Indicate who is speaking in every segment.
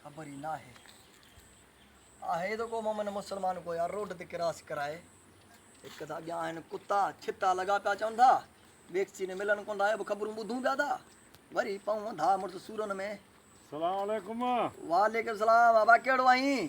Speaker 1: خبر ئي ناهي آهي ته ڪو مومن مسلمان ڪو يار روڊ تي ڪراس ڪرائي هڪ ته اڳيان آهن ڪتا ڇتا لڳا پيا چون ٿا ويڪسين ملن ڪون ٿا به خبرون ٻڌون پيا ٿا وري پون ٿا مڙس سورن ۾ السلام علیکم
Speaker 2: وعليڪم السلام
Speaker 1: بابا ڪهڙو آهين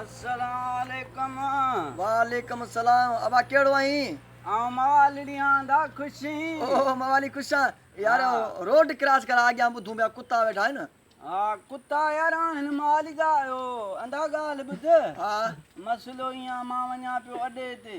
Speaker 3: السلام عليڪم.
Speaker 1: وعليڪم السلام ابا ڪهڙو آهين. آئون موالڙي
Speaker 3: آندا خوشين. اوهو موالي
Speaker 1: خوش آن يار روڊ ڪراس ڪر آڳيان ٻڌون پيا ڪتا ويٺا آهن. ها ڪتا
Speaker 3: يار آهن موالي جا اهو اندا ڳالهه ٻڌ ها
Speaker 1: مسئلو ايئن
Speaker 3: آ مان وڃان پيو اڏي تي